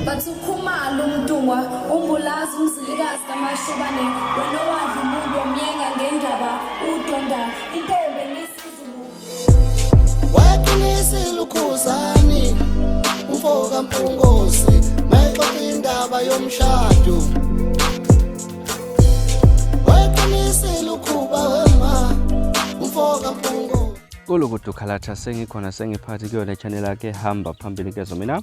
Bathi ukhumalo umntungwa umbulazi umzilikazi kamashobane wena owadla umuntu omyenga ngendaba udonda intombi ngesizulu wayeqinisa ilukhuzani umfo kampungosi mayexoxa indaba yomshado wayeqinisa ilukhuba wema umfo kampungosi kulukudukhalathase ngikhona sengiphathi kuyona channel yakhe hamba phambili kezo mina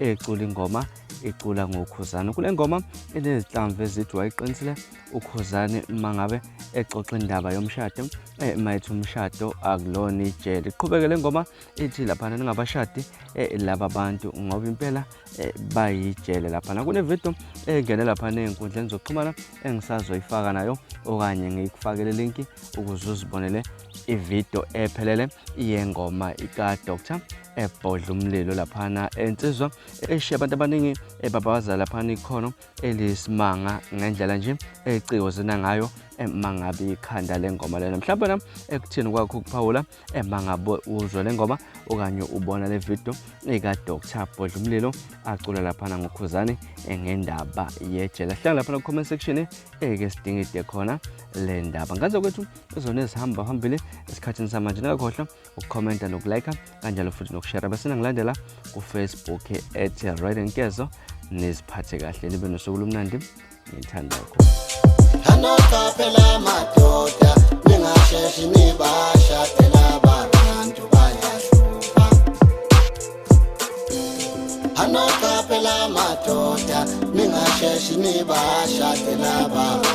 ecula ingoma icula ngokhuzane kule ngoma inezinhlamvu ezithi wayiqinisile ukhuzane uma ngabe exoxa indaba yomshado eh, mayithi umshado akulona ijele iqhubeke le ngoma ithi laphana ningabashadi eh, laba bantu ngoba impela eh, bayijele laphana kunevidiyo engene laphana ey'nkundleni zokuxhumana engisazoyifaka nayo okanye ngiyikufakele linki ukuze uzibonele ividiyo ephelele yengoma ikadr ebhodla umlilo laphana ensizwa eshiya abantu abaningi ebabaza laphana ikhono eliyisimanga ngendlela nje eciko zina ngayo emangabe ikhanda lengoma lena mhlawumbe wena ekuthini kwakho ukuphawula emangabe uzwe le ngoma okanye ubona le video ikadr bhodla umlilo acula laphana ngokhuzane ngendaba yejele hlala laphana ku-comment section eke sidingide khona le ndaba ngaze kwethu ezona ezihamba phambili esikhathini samanje ningakhohlwa ukukhomenta nokulayikha kanjalo futhi nokushera bese ningilandela kufacebook ethi right nkezo niziphathe kahle nibe nosuku lomnandi ngithanda lokho anoqaphela amadoda ningasheshi nibashadela abantu bayahlupha anoqaphela amadoda ningasheshi nibashadela abantu